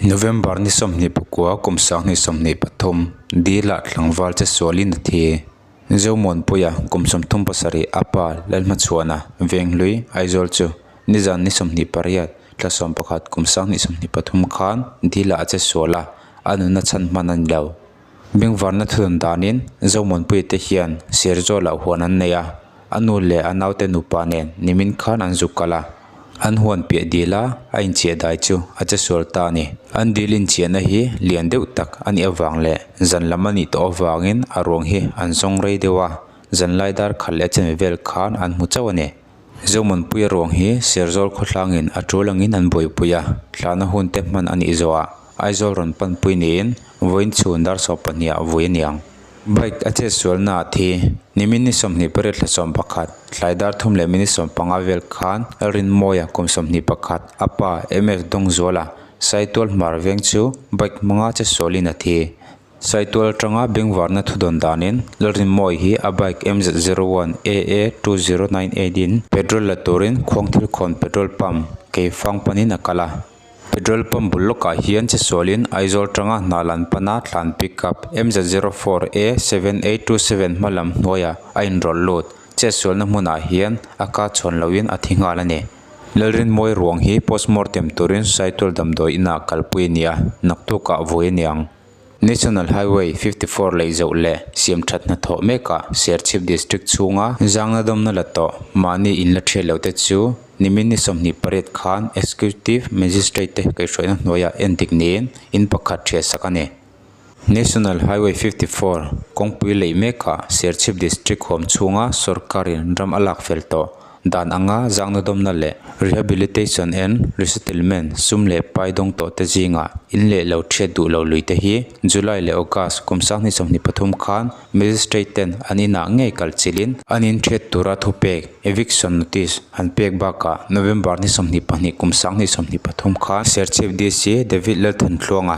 November ni sawmhnih pakua kum sanghnih sawmhnih pathum Dihlah tlangval che sualin a thi. Zomawnpuia kum sawmthum pasarih a pa Lalhmachuana Venghlui Aizawl chu nizan ni sawmhnih pariat thla sawm pakhat kum sanghnih sawmhnih pathum khan Dihlah a che sual a, a nuna chhan hman a ni lo. Bengvarna thut an danin Zomawnpuii te hian Serzo lah huan an nei a, a nu leh a naute nupa nen nimin khan an zuk kal a, an huan piah dil a, a inchiahdai chu a che sual ta a ni. An dil inchiahna hi lian deuh tak a nih avang leh zan lam a nih tawh avangin a ruang hi an zawng rei deuh a, zanlai dar khat leh a chanve vel khan an hmu chauh a ni. Zohmunpuia ruang hi Serzawl khawthlangin a tul angin an buaipui a, thlahna hunte hman a nih zawhah Aizawl rawn panpui niin vawiin chhun dar sawm pahniha vui a ni ang. Bike a chet sualnaah thi nimin ni sawmhnih pariat thla sawm pakhat, tlai dar thum leh minute sawm panga vel khan Rinmawiah kum sawmhnih pakhat a pa MF Dawngzuala saitual hmar veng chu bike hmanga che sualin a thi Saitual tanga bengvarna thudawn danin Lalrinmawi hi a bike MZ zero one AA two zero nine eight in petrol la turin Khuangthil Khawn petrol pump kei fang panin a kal a. Petrol pump bul lawkah hian chisualin Aizawl tanga hna lan pana thlan pickup MZ zero four A seven eight two seven hma lam hnuaiah a inrawlh lut. Chetsualna hmunah hian a ka chhawn loin a thi nghal a ni. Lalrinmawi ruang hi postmortem turin saitual damdawi inah kalpui a ni a, naktuk ah vawi a ni ang. National Highway fifty four lei zoh leh siam that hna thawh mekah Serchhip District chhunga zangna dawmna la tawh mahni in la thiat lo te chu nimin ni sawmhnih pariat khan Executive Magistrate te kaihhruaina hnuaiah endik niin in pakhat thiahsak a ni. National Highway fifty four kawngpui leih mekah Serchhip District hawm chhunga sorkarin ram a lak fel tawh dan anga zangna dawmna leh rehabilitation and resettlement sum leh pai dawng tawh te zinga in leh lo thiat duh lo lui te hi July leh August kum sang hnih sawmhnih pathum khan Magistrate ten an inah ngei kal chilhin an in thiat tura thupek, eviction notice, an pek bakah November hnih sawmhnih pahnih kum sang hnih sawmhnih pathum khan Serchhip DC David Lalthanthluanga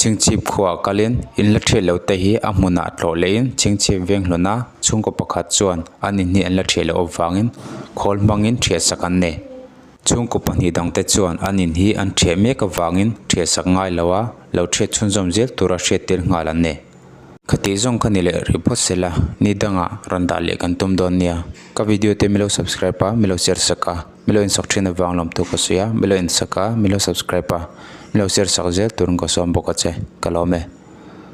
Chingchhip khuaa kalin in la ṭhiah loh te hi a hmunah tlawh lehin chingchhip veng hlawn a, chhungkaw pakhat chuan an in hi an la ṭhiah loh avangin khawl hmangin ṭhiah sak an nei. Chhungkaw pahnih dang te chuan an in hi an ṭhiah mek avangin ṭhiah sak ngai lo a, lo ṭhiat chhunzawm zel tur a hriat tel nghal an nei. Ka tih zawng ka ni leh rih phawt se la, ni dangah rawn dah leh kan tum dawn nia. Ka video te milo subscribe a, milo share sak a. Milo insak thin avang lawmtu ka sawi a, milo insaka, milo subscribe a, milo share sak zel turin ka sawn bawk a che, ka lawm e.